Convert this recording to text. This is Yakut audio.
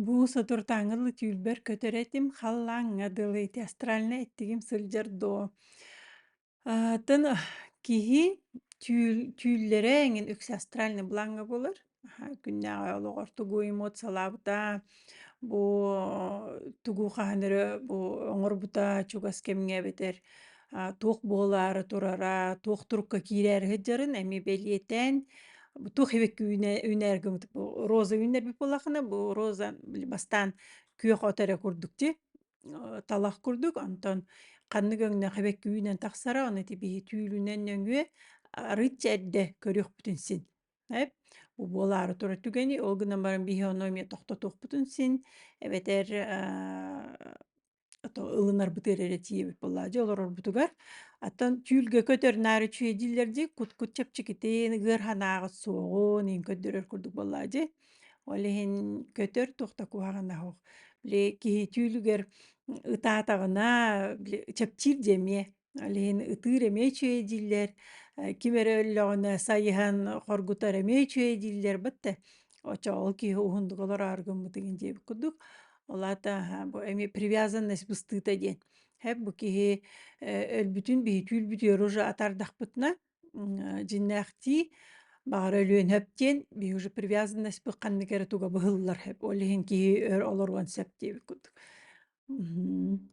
Бу соторутааҥҥы түүлбэр көтөр этим, халлааҥҥа дылы ити астральнай эттигим сылдьар дуо? Атын киһи түүл түүллэрэ эҥин үксэ астральный бланга булар. Аха, күннээҕи олоҕор тугу эмоциялаабыта, бу тугу хаһан эрэ бу оҥорбута чугас кэмҥэ эбэтэр туох буолаары турара, туох турукка киирээри сылдьарын эми бэлиэтээн, туох эбикки үүнээргимит роза үүннэрбит буоллахына, бу роза бастаан күөх от эрэ курдук дии, талах курдук, онтон ханнык өҥнөөх эбэкки үүнэн тахсара, ону ити биһи түүлүнэн нөҥүө арыычча эрдэ көрүөхпүтүн син. Бу буолаары турар түгэни, ол гынан баран биһи ону эмиэ тохтотуохпутун син, эбэтэр ото ылынарбытыгар эрэ тиийэбит буоллаа дьэ олорорбутугар аттан түүлгэ көтөрнөөрү чүүй дииллэр дии кут-кут чэпчэкитин ыгыар ханааҕыт суоҕун иин көрдөрөр курдук буоллаа дии ол иһин көтөр туох да куһаҕана суох били киһи түүлүгэр ытаатаҕына били чэпчиир дии эмиэ Алиһин ытыыр эмиэ үчүгэй дииллэр, э, ким эрэ өллөҕүнэ сайыһан хоргутар эмиэ үчүгэй дииллэр. Бат да оччоҕо киһи уһундук олороору гыммытыгын диэбит курдук. Ол аата аһа бу эми привязанность быстыыта диэн. Хэп бу киһи э, өлбүтүн биһи түүл-бүтүөр уже атардахпытына м, дьиннээхтии баҕара өлүөнһэп диэн биһи уже привязанность бу ханнык эрэ туга быһыллар хэп. Ол иһин киһи өр олоруон сөп диэбит курдук. Мхм.